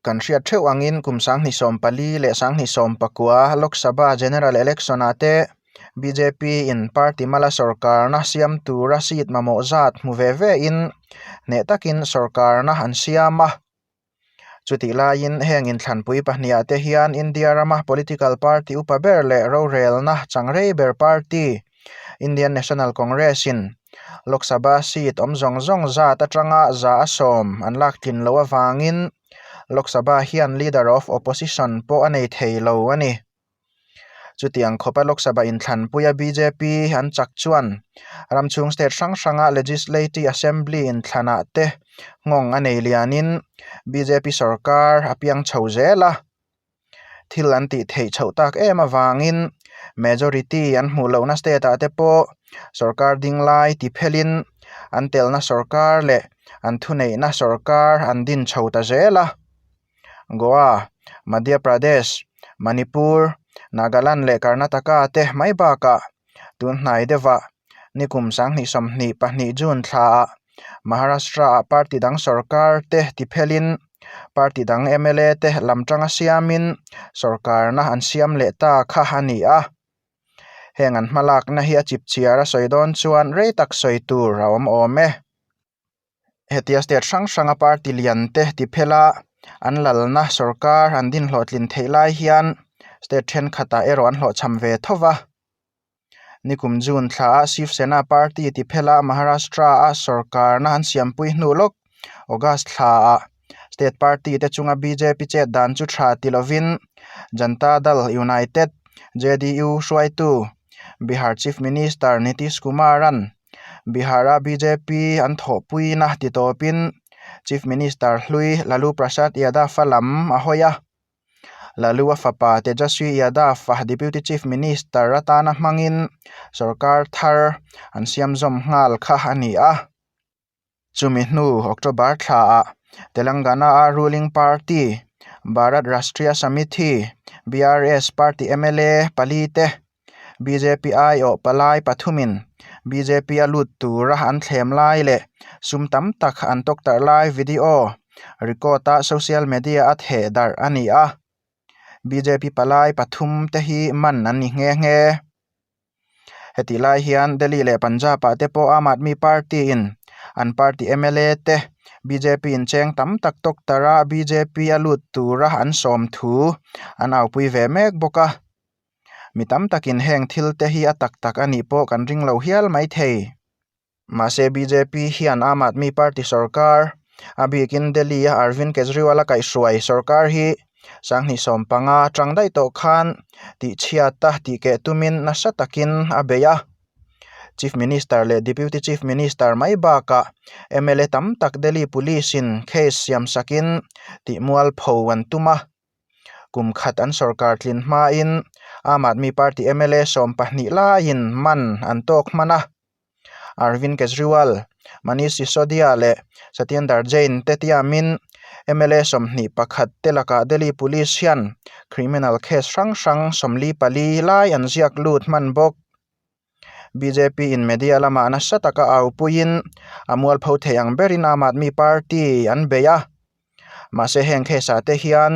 Kan hriat theuh angin kum Sangni sawm pali leh Sangni sawm pakua Lok Sabha General Election-ah te bjp in party mala sawrkarna siam tura seat mamawh zat hmu ve vein hneh takin sawrkarna an siam a. Chutih laiin heng inthlanpui pahniha te hian India rama political party upa ber leh rorelna changrei ber party Indian National Congress-in Lok Sabha seat awm zawng zawng zat atanga za a sawm an lak tlin loh avangin Lok Sabha hian Leader of Opposition pawh a nei thei lo a ni. Chutiang khawpa Lok Sabha inthlanpuia bjp an chak chuan ramchhung state hrang hranga Legislati Assembly inthlanah te nghawng a nei lianin bjp sawrkar a piang chho zel a. thil an tih theih chhoh tak em avangin majority an hmuh lohna state ah te pawh sorkar ding lai ti phelhin an telna sorkar leh an thuneihna sorkar an din chho ta zel a. Goa, Madhya Pradesh, Manipur, Nagaland leh Karnataka te mai bakah tunhnai deuhah nikum sanghnihsawm hnih pahnih June thla ah Maharashtra ah party dang sorkar te ti phel in party dang mla te lam tang a siam in sorkar na an siam leh ta kha a ni a, heng an hmalak na hi a chip chhiar a sawi dawn chuan rei tak sawi tur a awm awm e. Hetia state hrang hranga party lian te ti phela an lalna sorkar an din hlawhtlin theih lai hian state thenkhatah erawh an hlawhchham ve thauh va. Nikum June thla ah Shiv Sena party ti phela Maharashtra a sorkarna an siampui hnu lawk August thla ah state party te chunga bjp chet dan chu tha ti lovin Janta Dal United, JDU, hruaitu Bihar Chief Minister Nitish Kumaran Bihar-a bjp an thawhpuiin a titawpin Chief Minister hlui Lalu Prasad Yadav-a lam a hawi a. Lalu-a fapa Tejaswi Yadav-a Deputy Chief Minister atana hmangin sorkar thar an siamzawm nghal kha a ni a. Chumi hnu October thlaah Telangana-a ruling party Bharat Rashtriya Samiti, BRS, party mla pali te bjp aiawh palai pathumin bjp-a lut tura an thlem lai leh sum tam tak an tawk tarh lai video record-a social media-a theh darh a ni a. Bjp palai pathum te hi man an ni nghe nghe. Heti lai hian Delhi leh Punjab ah te pawh Aam Aadmi Party in an party mla te bjp in cheng tam tak tawk tar a bjp a lut tura an sawm thu an aupui ve mek bawk a. Mi tam takin heng thil te hi a tak tak a nih pawh kan ring lo hial mai thei. Mahse bjp hian Aam Aadmi Party sawrkar a bikin Delhi a Arvind Kejriwal a kaihhruai sawrkar hi sanghnih sawm panga a tang daih tawh khan tihchhiat a tih keh tumin nasa takin a beih a. Chief Minister leh Deputy Chief Minister mai bakah mla tam tak Delhi Police-in case siamsakin tihmual pho an tum a. Kum khat an sawrkar tlin hmain Aam Aadmi Party mla sawm pahnih laiin man an tawk hman a, Arvind Kejriwal, Manish Sisodia leh Satyendar Jain te tiamin mla sawmhnih pakhat te lakah Delhi Police hian criminal case hrang hrang sawmli pali lai an ziak lut hman bawk. Bjp in media lama nasa taka aupuiin a mualpho theih ang berin aam aadmi party an beih a. Mahse heng case-ah te hian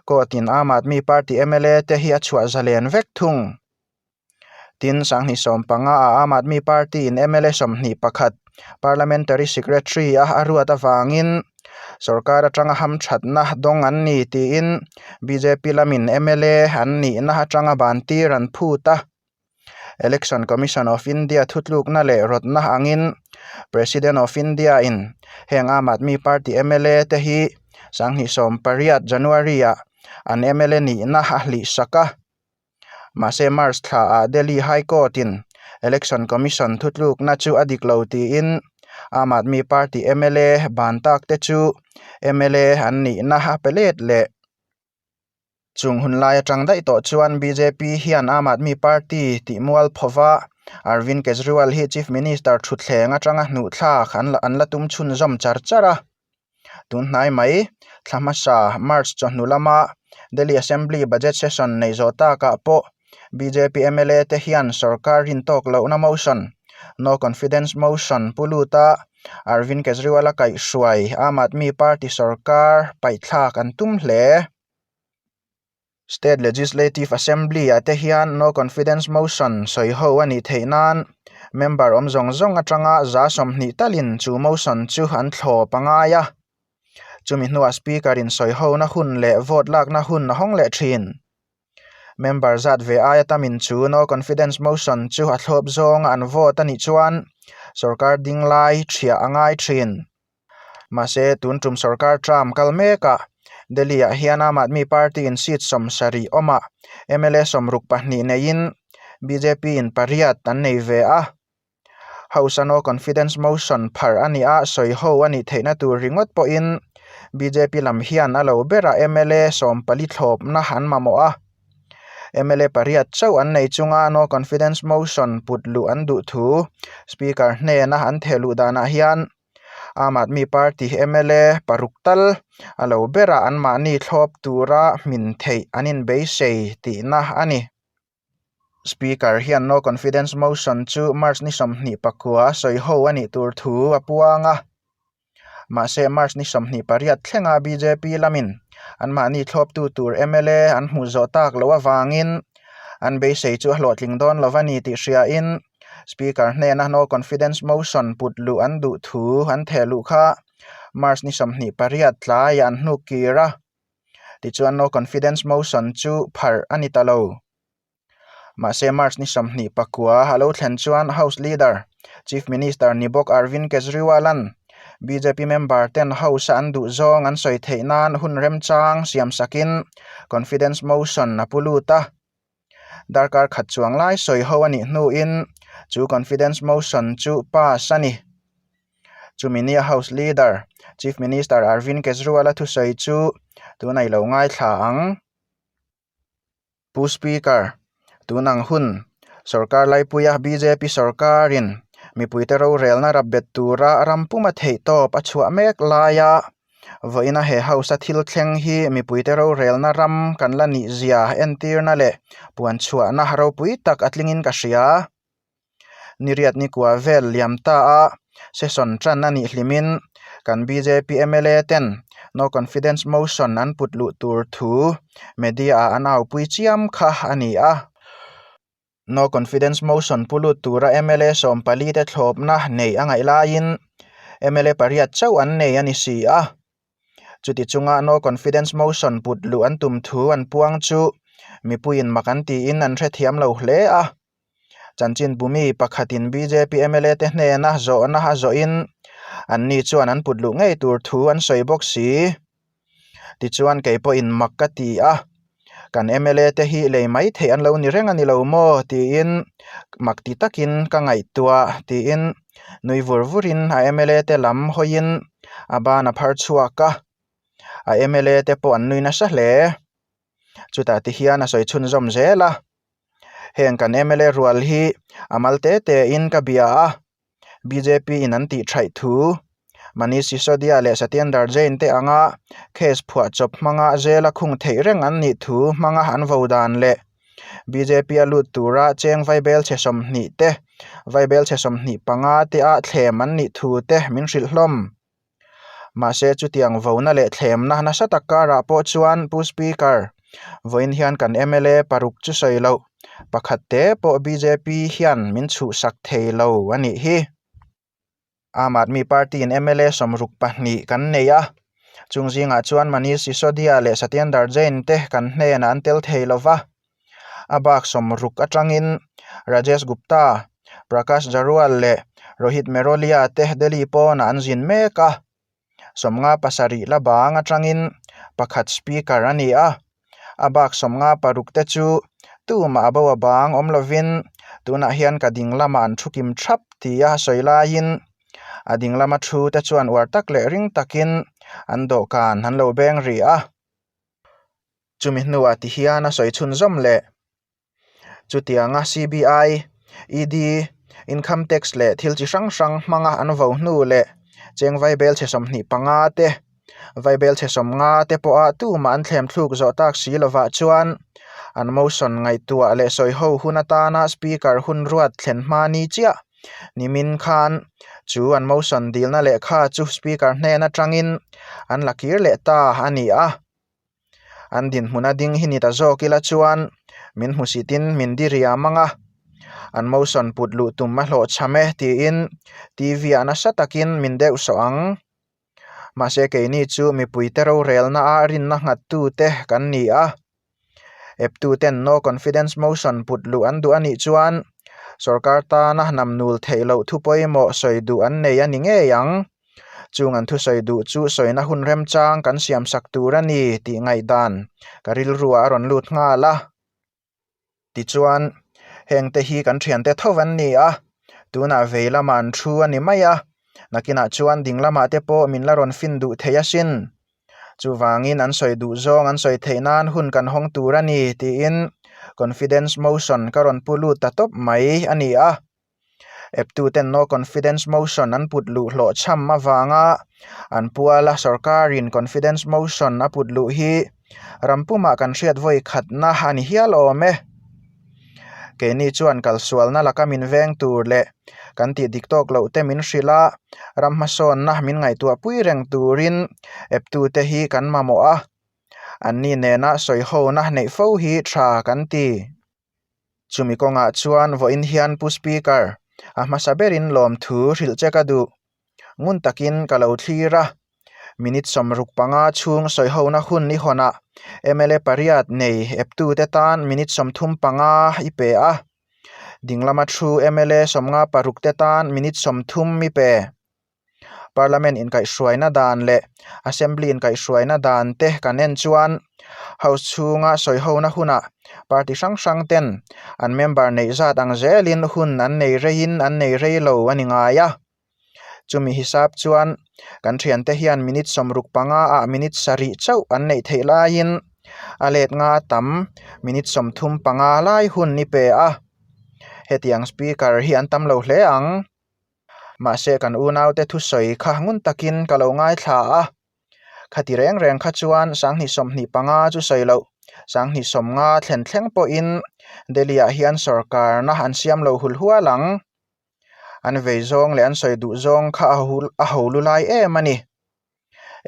court in aam aadmi party mla te hi a chhuah zalen vek thung. Tin, sanghnih sawm panga a aam aadmi party in mla sawmhnih pakhat parliamentary secretary a a ruat avangin sorkar atang a ham thatna dawng an ni tiin bjp lamin mla an nihna atanga bantir an phut a. Election Commission of India thutlukna leh rawtna angin President of India in heng Aam Aadmi Party mla te hi sanghnih sawm pariat, January-ah an mla nihna a hlihsak a. Mahse March thlaah Delhi High Court in Election Commission thutlukna chu a dik lo tiin Aam Aadmi Party mla ban tak te chu mla an nihna a pe let leh. Chung hun lai atang daih tawh chuan bjp hian Aam Aadmi Party tih mual pho va, Arvind Kejriwal hi Chief Minister thutthleng atanga hnuhthlak an la tum chhun zawm char char a. Tun hnai mai, thla hmasa, March chawhnu lama Delhi Assembly Budget Session neih zawh takah pawh Bjp mla te hian sawrkar hrin tawk lohna motion, No Confidence Motion, pu lut a, Arvind Kejriwal a kaih hruai Aam Aadmi Party sawrkar paihthlak an tum hle. State Legislative Assembly ah te hian No Confidence Motion sawi ho a nih theih nan member awm zawng zawng atanga za sawmhnih talin chu motion chu an thlaw pangai a. Chumi hnuah speaker in sawi hona hun leh vote lakna hun a hawng leh thin. Member zat ve aia ta min chu no confidence motion chu a thlawp zawnga an vote a nih chuan sorkar ding lai ṭhriah a ngai ṭhin. Mahse tun ṭum sorkar Trump kal meka Delhi-ah hian Aam Aadmi Party-in seat sawm sarih awma mla sawm ruk pahnih neiin bjp-in pariat an nei ve a. Hausa no confidence motion phar a ni a, sawi ho a nih theihna tur ringawt pawhin bjp lam hian a lo bera mla sawm pali thlawpna an mamawh a. Mla pariat chauh an nei chunga no confidence motion put luh an duh thu Speaker hnena an theh luh danah hian Aam Aadmi Party mla paruk tal a lo bera an mahni thlawp tura hmin theih an inbeisei tihna a ni. Speaker hian no confidence motion chu March ni sawmhnih pakua a sawi ho a nih tur thu a puang a. Mahse March ni sawmhnih pariat thlenga bjp lamin anmahni thlawptu tur mla an hmuh zawh tak loh avangin an beisei chu a hlawhtling dawn lo a ni tih hriain Speaker hnena no confidence motion put luh an duh thu an theh luh kha March ni sawmhnih pariat tlaiah an hnuk kir a. Tichuan no confidence motion chu pharh a ni ta lo. Mahse March ni sawmhnih pakua a lo thlen chuan House Leader, Chief Minister ni bawk Arvind Kejriwal-a'n bjp member ten House-a an duh zawng an sawi theih nan hun remchang siam sakin confidence motion a pu lut a. darkar khat chuang lai sawi ho a nih hnuin chu confidence motion chu pass a ni. Chumi nia House Leader, Chief Minister Arvind Kejriwal-a thusawi chu tun a ilo ngaithla ang. Pu Speaker, tun ang hun sorkar laipuia bjp sorkarin mipuite rorelna rap bet tura ram puma theihtawp a chhuah mek laia vawiin a he house a thil thleng hi mipuite rorelna ram kan la nih zia entirna leh puan chhuahna ropui tak a tlingin ka hria. Ni riat ni kua vel liam ta a session tan a nih hlimin kan bjp mla ten no confidence motion an put luh tur thu media ah an aupui chiam kha a ni a. No Confidence Motion pu lut tura mla sawm pali te thlawpna neih a ngaih laiin mla pariat chauh an nei a ni si a. Chuti chunga No Confidence Motion put luh an tum thu an puang chu mipuiin mak an tiin an hrethiam lo hle a. Chanchin Bumi pakhatin bjp mla te hnena zawhna a zawhin anni chuan an put luh ngei tur thu an sawi bawk si. Tichuan kei pawhin mak ka ti a, kan mla te hi lei maithei an lo ni reng a ni lo maw tiin mak ti takin ka ngaihtuah tiin nui vur vurin a mla te lam hawiin a ban a phar chhuak a. A mla te pawh an nui nasa hle. Chutah te hian a sawi chhun zawm zel a, heng kan mla rual hi a mal te tein ka bia a. BJP-in an tih thaih thu Manish Sisodia leh Satyendar Jain-te anga case phuah chawp hmanga zela khung theih reng an nih thu hmanga an vo dan leh BJP-a lut tura cheng vai bel chhe sawmhnih te, vai bel chhe sawmhnih panga te-a thlem an nih thu te min hrilh hlawm. Mahse chutiang vona leh thlemna nasa tak karah pawh chuan Pu Speaker, vawiin hian kan mla paruk chu sawi loh, pakhat te pawh bjp hian min chhuhsak thei lo a nih hi. Aam Aadmi Party in mla sawmruk pahnih kan neih a, chung zingah chuan Manish Sisodia leh Satyendar Jain te kan hnenah an tel thei lo va. A baksawm ruk atangin Rajesh Gupta, Prakash Jarual leh Rohit Merolia te Delhi pawnah an zin mek a. Sawmnga pasarih la bang atangin pakhat Speaker a ni a. A baksawmnga paruk te chu tumah a bo abang awm lovin tunah hian ka ding lamah an thu kim thap ti a sawi laiin a ding lama thu te chuan uar tak leh ring takin an dawhkan an lo beng rih a. Chumi hnuah ti hian a sawi chhun zawm le. Chutianga CBI, ED, Income Tax leh thil chi hrang hrang hmanga an vo hnu leh cheng vai bel chhe sawmhnih panga te, vai bel chhe sawm nga te pawha tumah an thlem thluk zawh tak si lovah chuan an motion ngaihtuah leh sawiho hun atana Speaker hun ruat thlen hma ni chiah nimin khan chu an motion dilna lehkha chu Speaker hnen aṭangin an la kir leh ta a ni a. An dinhmun a ding hi ni ta zawk ila chuan min hmu si tin min diriam mang a, an motion put luh tum a hlawh chham e tiin TV ah nasa takin min deuh sawh ang. Mahse keini chu mipuite rorelna a rinna nghattu te kan ni a, eptu ten no confidence motion put luh an duh a nih chuan sorkar tana namnul theih loh thu pawimawh sawi duh an nei a ni ngei ang. Chung an thusawi duh chu sawina hun remchang kan siamsak tur a ni tih ngaihdan ka rilruah a rawn lut nghal a. Tichuan, hengte hi kan thiante tho an ni a, tunah vei lamah an thu a ni mai a, nakinah chuan ding lamah te pawh min la rawn fin duh theih asin. Chuvangin an sawi duh zawng an sawi theih nan hun kan hawng tur a ni tiin confidence motion ka rawn pu lut ta tawp mai a ni a. Eptu ten no confidence motion an put luh hlawh chham avanga an pual a, sorkarin confidence motion a put luh hi ram pumah kan hriat vawi khatna a ni hial awm e. Keini chuan kalsualna laka min veng tur leh kan tih dik tawk loh te min hrilh a, ram hmasawnna min ngaihtuah pui reng turin eptu te hi kan mamawh a, anni nena sawi hona neih fo hi tha kan ti. Chumi kawngah chuan vawiin hian Pu Speaker, a hmasa berin lawmthu hrilh che ka duh. Ngun takin ka lo thlir a, minute sawm ruk panga chhung sawihona hun i hawn a, mla pariat nei eptute tan minute sawm thum panga i pe a, dinglam a thu mla sawmnga parukte tan minute sawm thum i pe. Parliament inkaihhruaina dan leh Assembly inkaihhruaina dan te kan en chuan House chhunga sawihona huna party hrang hrang ten an member neih zat ang zelin hun an nei reiin an nei rei lo a ni ngai a. Chumi hisap chuan kan thiante hian minute sawm ruk panga ah minute sarih chauh an neih theih laiin a let nga tam minute sawm thum panga lai hun ni pe a. Hetiang Speaker hi an tam lo hle ang. Mahse kan unaute thusawi kha ngun takin ka lo ngaithla a, khati reng reng kha chuan sanghnih sawmhnih panga chu sawi loh, sanghnih sawmnga thlen thleng pawhin Delhi-ah hian sawrkarna an siam lo hul hual ang. An vei zawng leh an sawi duh zawng kha a ho lu lai em a ni.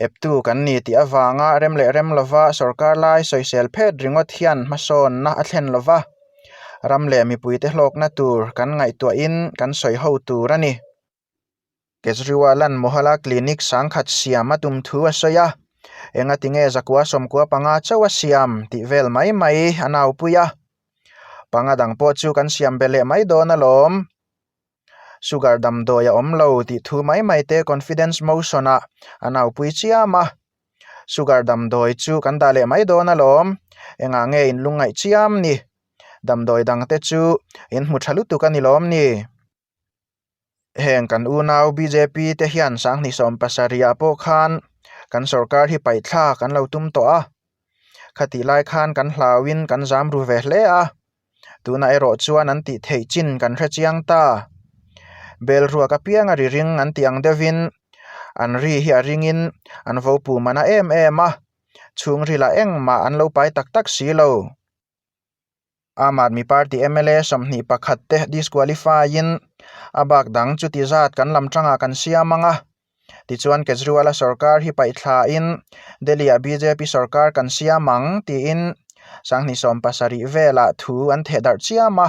Eptu kan ni tih avanga rem leh rem lova sorkar lai sawisel phet ringawt hian hmasawnna a thlen lo va, ram leh mipuite hlawkna tur kan ngaihtuahin kan sawi ho tur a ni. Kejriwal-a'n Mohalla Clinic sangkhat siam a tum thu a sawi a, engatinge zakua sawmkua panga chauh a siam tih vel mai mai a naupui a, panga dang pawh chu kan siam be leh mai dawn alawm. Sugar damdawi a awm lo tih thu mai mai te confidence motion ah a naupui chiam a. Sugar damdawi chu kan dah leh mai dawn alawm, engah nge in lungngaih chiam ni? Damdawi dang te chu in hmu tha lutuk a ni lawm ni? Heng kan unau bjp te hian sanghnih sawm pasarih ah pawh khan kan sorkar hi paihthlak an lo tum tawh a, khati lai khan kan hlau in kan zam ru ve hle a. Tuna erawh chuan an tih theih chin kan hre chiang ta. Bel ruak apiang a ri ring an tih ang deuhin an ri hi a ringin an vo pu man a em em a, chhungrila engmah an lo pai tak tak si lo. Aam Aadmi Party mla sawmhnih pakhat te disqualify-in a bak dang chuti zat kan lam tangah kan siam ang a. Tichuan Kejriwala sawrkar hi paihthlain Delhi-ah bjp sawrkar kan siam ang tiin sanghnih sawm pasarih velah thu an thehdarh chiam a.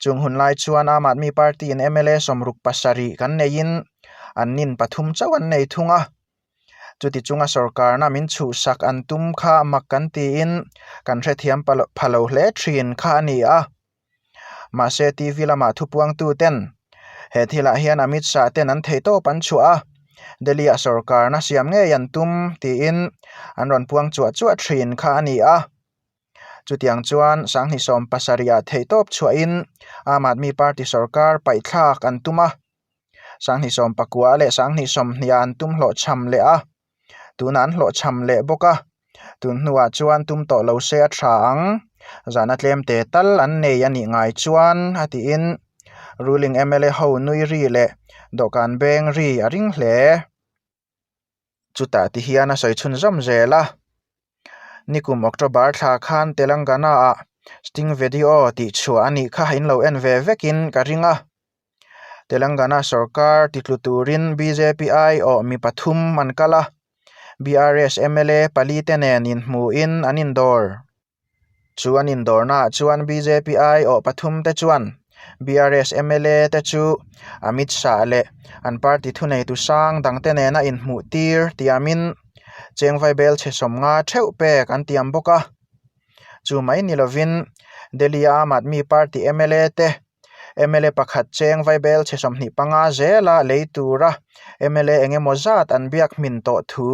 Chung hun lai chuan Aam Aadmi Party-in mla sawm ruk pasarih kan neiin an nin pathum chauh an nei thung a. Chuti chunga sawrkarna min chhuhsak an tum kha mak kan tiin kan hrethiam pha lo hle thin kha a ni a. Mahse, TV lama thu puangtuten he thilah hian a mitsah ten an theih tawp an chhuah a, Delhi-ah sorkarna siam ngei an tum tiin an rawn puang chuah chuah thin kha a ni a. Chutiang chuan sanghnih sawm pasarihah theih tawp chhuahin Aam Aadmi Party sorkar paihthlak an tum a, sanghnih sawm pakua leh sanghnih sawmhniha an tum hlawhchham leh a. tuna an hlawh chham leh bawk a tun hnuah chuan tum tawh lo se a tha ang zahna tlem te tal an nei a nih ngai chuan a tiin ruling mla ho nui ri leh dawhkan beng ri a ring hle chutah te hian a sawi chhun zawm zel a nikum october thla khan telangana ah sting vedio tih chhuah a nih kha in lo en ve vek in ka ring a. Telangana sawrkar titlu turin bjp ai awh mi pathum an kal a, BRS mla pali te nen inhmuhin an indawr. Chu an indawrnaah chuan bjp ai awh pathum te chuan BRS mla te chu Amit Shah leh an party thuneitu sang dang te nena inhmuh tir tiamin chengvai bel chhe sawm nga theuh pek an tiam bawk a. Chu mai ni lovin Delhi-a Aam Aadmi Party mla te mla pakhat cheng vai bel chhe sawmhnih panga zela lei tura mla eng emaw zat an biak hmin tawh thu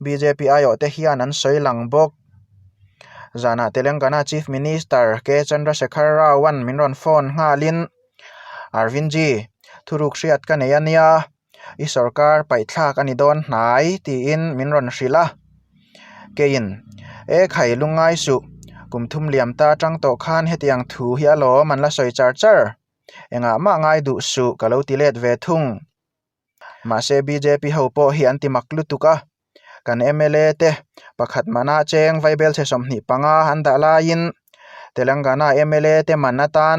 bjp aiawh te hian an sawi lang bawk. Zanah Telengana Chief Minister K Chandrasekhar Rao-an min rawn phone nghalin, Arvind ji, thuruk hriat ka nei a nia, I sorkar paihthlak a ni dawn hnai tiin min rawn hrilh a. Keiin, E khai lu ngai suh, kum thum liam ta atang tawh khan hetiang thu hi a lawm an la sawi char char. Engah mah ngai duh suh ka lo ti let ve thung. Mahse bjp ho pawh hi an ti mak lutuk a, kan mla te pakhat manah cheng vai bel chhe sawmhnih panga an dah laiin Telangana mla te man atan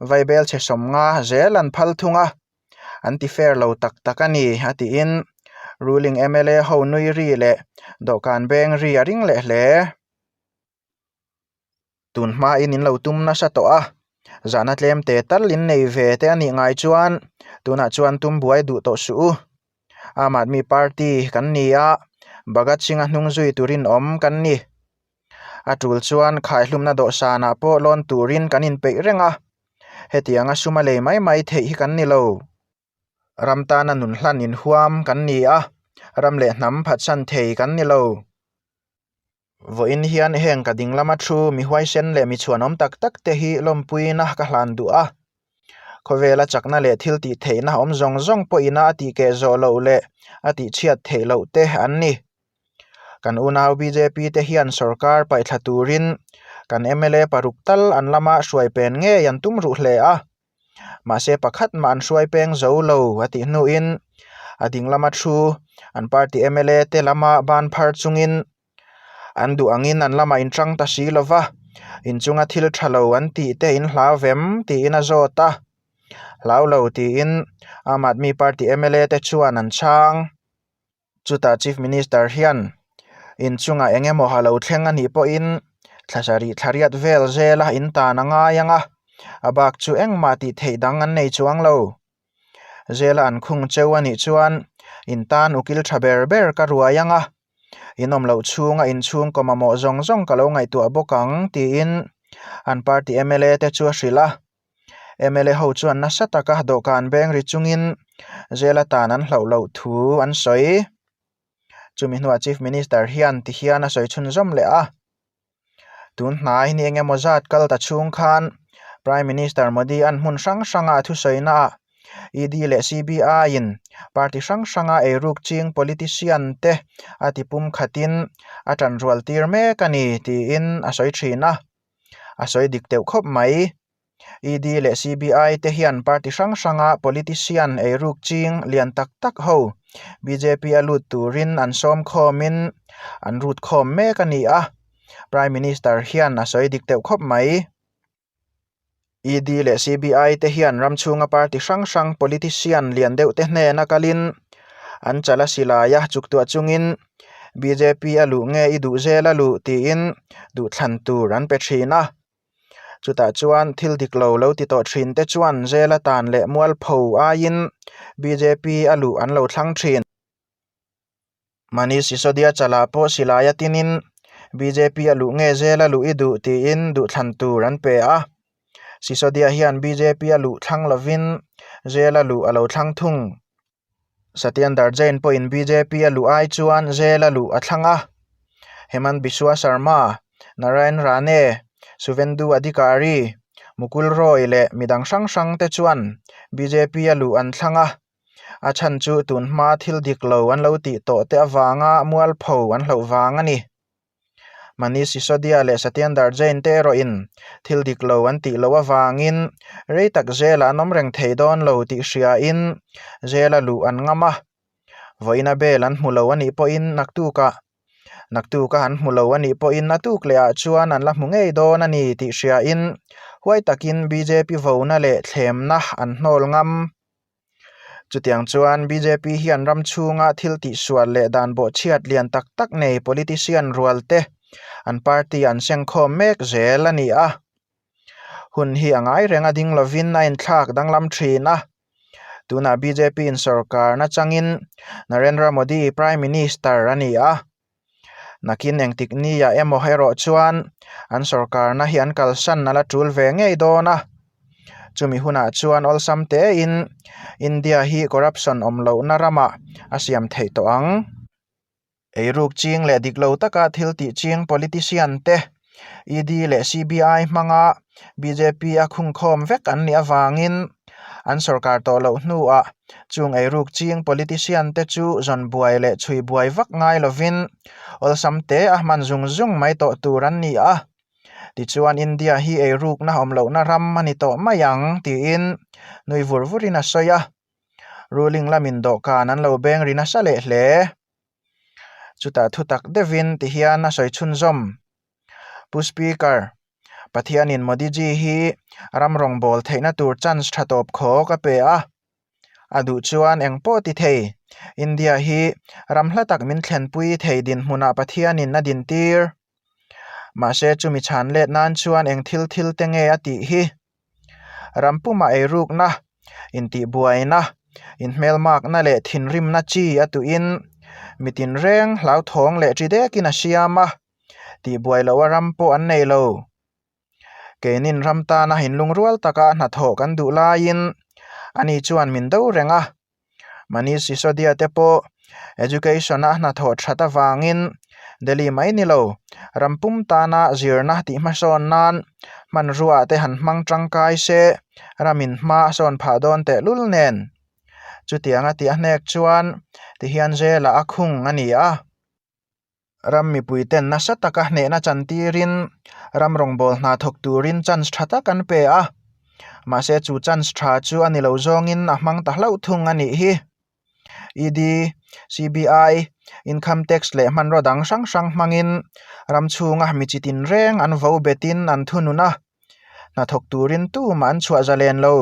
vai bel chhe sawmnga zel an phal thung a. an ti fair lo tak tak a ni, a tiin Ruling mla ho nui ri leh dawhkan beng ri a ring leh hle. Tun hmain in lo tum nasa tawh a, zahna tlem te tal in nei ve te a nih ngai chuan tunah chuan tum buai duh tawh suh u. Aam Aadmi Party kan ni a, Bhagat Singha hnung zui turin awm kan ni. A tul chuan khaihlumna dawhsanah pawh lawn turin kan inpeih reng a, hetiang a suma lei mai mai theih hi kan ni lo. Ram tana nun hlan inhuam kan ni a, ram leh hnam phatsan thei kan ni lo. Vawiin hian heng ka ding lama thu mi huaisen leh mi chhuanawm tak tak te hi lawmpuina ka hlan duh a. Khawvela chakna leh thil tih theihna awm zawng zawng pawhina a tih keh zawh loh leh a tih chhiat theih loh te an ni. Kan unau bjp te hian sorkar paihthla turin kan mla paruk tal an lama hruai pen ngei an tum ruh hle a. Mahse pakhat mah an hruai peng zo lo, a tih hnuin a ding lama thu an party mla te lama ban phar chungin an duh angin an lamah in tang ta si lova, inchunga thil tha lo an tih te in hlau em tiin a zawt a. Hlau lo tiin Aam Aadmi Party mla te chuan an chhang. Chutah Chief Minister hian in chungah eng emaw lo thleng a nih pawhin thlasa rih thlariat vel zela in tan a ngai ang a, a bak chu engmah tih theih dang an nei chuang lo. Zela an khung cheu a nih chuan in tan ukil tha ber ber ka ruai ang a, in awm loh chhunga in chhungkaw mamawh zawng zawng ka lo ngaihtuah bawk ang, tiin an party mla te chu a hrilh a. mla ho chuan nasa taka dawhkan beng ri chungin zela tan an hlauh loh thu an sawi. Chumi hnuah Chief Minister hian ti hian a sawi chhun zawm leh a, Tun hnai ni eng emaw zat kal ta chhung khan Prime Minister Modi-a'n hmun hrang hranga a thusawinaah ED leh CBI-in party hrang hranga ei ruk ching politician-te a ti pum khatin a tanrual tir mek a ni, tiin a sawi thin a. a sawi dik teuh khawp mai. ED leh CBI te hian party hrang hranga politician eiruk ching lian tak tak ho bjp a lut turin an sawm khawmin an rut khawm mek a ni a Prime Minister hian a sawi dik teuh khawp mai. ED leh CBI te hian ram chhunga party hrang hrang, politician lian deuh te hnena kalin an chal a si lai a, chuktuah chungin bjp a luh nge i duh zel a luh tiin duhthlan tur an pe thin a. Chutah chuan thil dik lo lo ti tawh thin te chuan zel atan leh mualpho aiin bjp a luh an lo thlang thin. Manish Sisodia chalah pawh silaiah tinin bjp a luh nge zel a luh i duh tiin duhthlan tur an pe a. Sisodia hian bjp a luh thlang lovin zel a luh a lo thlang thung. Satyendar Jain pawhin bjp a luh ai chuan zel a luh a thlang a. Hemant Biswa Sarma, Narayan Rane, Suvendu Adhikari, Mukul Roy leh midang hrang hrangte chuan bjp a luh an thlang a. a chhan chu tun hma thil dik lo an lo tih tawh te avanga mual pho an hloh vang a ni. Manish Sisodia leh Satyendar Jain te erawh in thil dik lo an tih loh avangin rei tak zela an awm reng thei dawn lo tih hriain zêl a luh an ngam a. Vawina bel an hmu lo a nih pawhin naktuka naktuka han hmu lo a nih pawhin a tuk lehah chuan an la hmu ngei dawn a ni tih hriain huai takin bjp vona leh thlemna an hnawl ngam. Chutiang chuan bjp hian ram chhunga thil tihsual leh dan bawhchhiat lian tak tak nei politician rual te an party an sengkhawm mek zel a ni a. Hun hi a ngai reng a ding lovin a inthlak danglam thin a. Tunah bjp in sawrkarna changin Narendra Modi Prime Minister a ni a. Nakin engtik nia emaw erawh chuan an sorkarna hi an kalsan nala tul ve ngei dawn a. Chumi hunah chuan awlsam tein India hi corruption awm lohna rama a siam theih tawh ang. Eiruk ching leh dik lo taka thil tih ching politician te ED leh CBI hmanga bjp a khungkhawm vek an nih avangin an sorkar tawh loh hnuah chung ei ruk ching politician te chu zawn buai leh chhui buai vak ngai lovin awlsam te a hman zung zung mai tawh tur an ni a. Tichuan India hi ei rukna awm lohna ram a ni tawh mai ang tiin nui vur vurin a sawi a. Ruling lamin dawhkan an lo beng ri nasa leh hle. Chutah thutak deuhin ti hian a sawi chhunzawm. Pu Speaker, Pathianin Modi ji hi ram rawngbâwl theihna tur chance ṭha tâwp khâwk a pe a. A duh chuan engpawh ti thei. India hi ram hla tak min thlenpui thei dinhmunah Pathianin a dintîr. Mahse chumi chhân lêt nân chuan eng thil thil te nge a tih hi? Rampuma eirukna, intihbuaina, inhmelmakna leh thinrimna chi a tuhin mi tinreng hlauthawng leh ṭi dekin a hriam a, tihbuai loh a ram pawh an nei lo. Keinin ram tana inlungrual taka hnathawh kan duh laiin ani chuan min do reng a, Manish Sisodia te pawh Education a hnathawh that avangin Delhi mai ni lo, ram pum tana zirna tih hmasawn nan hmanrua te han hmang tangkai se, ram inhma a sawn phah dawn tehlul nen. Chutianga tih a hnek chuan tihian zela a khung a ni a. ram mipuiten nasa taka hnehna chan tirin ram rawngbâwl hna thawk tûrin chance ṭha tak an pe a. Mahse chu chance ṭha chu a ni lo zawngin a hmang ta hlauh thung a nih hi. ED, CBI, Income Tax leh hmanraw dang hrang hrang hmangin ram chhûnga mi chi tinrêng an vo betin an thunun a, hna thawk tûrin tûmah an chhuah zalen lo.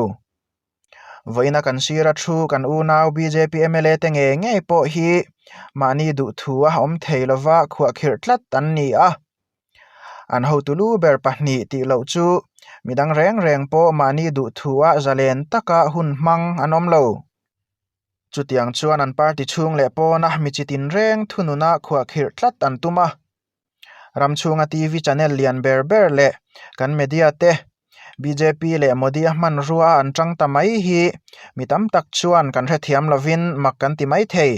vawiin a kan sira thu kan unau bjp mla te nge ngei pawh hi mahni duhthu a awm thei lova khuah khirh tlat an ni a an hotu lu ber pahnih tih loh chu midang reng reng pawh mahni duhthu a zalen taka hun hmang an awm lo chutiang chuan an party chhung leh pawn a mi chi tin reng thunun a khuah khirh tlat an tum a. ram chhunga TV channel lian ber ber leh kan media te bjp leh Modi a hmanrua a an tang ta mai hi mi tam tak chuan kan hrethiam lovin mak kan ti mai thei.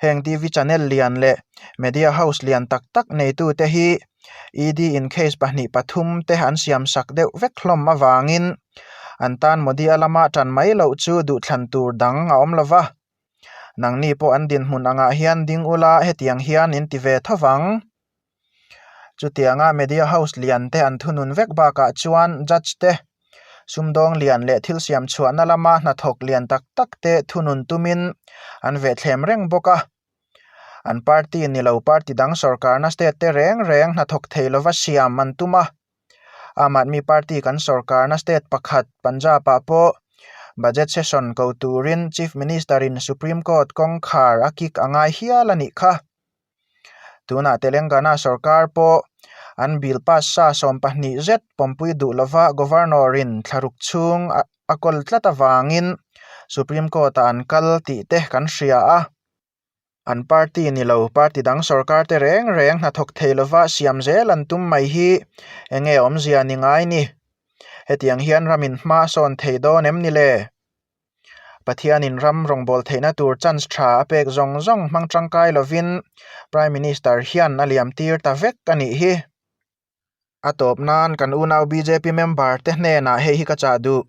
Heng TV channel lian leh media house lian tak tak neitu te hi ED in case pahnih pathum te an siam sak deuh vek hlawm avangin an tan Modi a lama tan mai loh chu duhthlan tur dang a awm lova. Nangni pawh an dinhmun angah hian ding ula hetiang hian in ti ve tho vang. Chutianga Media House liante an thunun vek bakah chuan Judge te, Sumdawng lian leh thil siamchhuahna lama hnathawk lian tak tak te thunun tumin an ve thlem reng bawk a. An party ni lo party dang sawrkarna state te reng reng hnathawk thei lova siam an tum a. Aam Aadmi Party kan sorkarna state pakhat Punjab-ah pawh Budget session ko turin Chief Minister-in Supreme Court kawngkhar a kik a ngai hial a nih kha. Tunah Telengana sorkar pawh an Bill pass sa sawm pahnih zet pawmpui duh lova Governor-in thlaruk chhung a kawl tlat avangin Supreme Court-ah an kal tih te kan hria a. An party ni lo, party dang sorkar te reng reng hnathawk thei lova siam zel an tum mai hi eng nge awmzia ni ngai ni? Hetiang hian ram in hma sawn thei dawn em ni le? Pathianin ram rawngbâwl theihna tur chance ṭha a pêk zawng zawng hmang ṭangkai lovin Prime Minister hian a liam tir ta vek a nih hi. a tawp nan kan unau bjp member te hnenah hei hi ka chah duh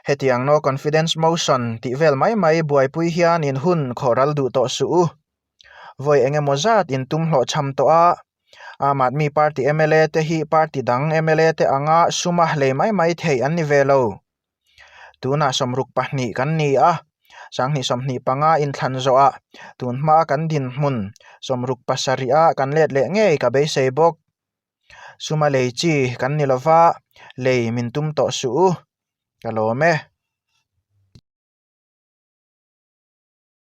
hetiang no confidence motion tih vel mai mai buaipui hian in hun khawh ral duh tawh suh u, vawi eng emaw zat in tum hlawh chham tawh a, aam aadmi party mla te hi party dang mla te anga suma hlei mai mai thei an ni ve lo. Tunah sawmruk pahnih kan ni a, sanghnih sawmhnih panga inthlan zawh ah tun hma kan dinhmun sawmruk pasarih ah kan let leh ngei ka beisei bawk. Suma lei chi kan ni lova, lei min tum tawh suh u ka lawm e.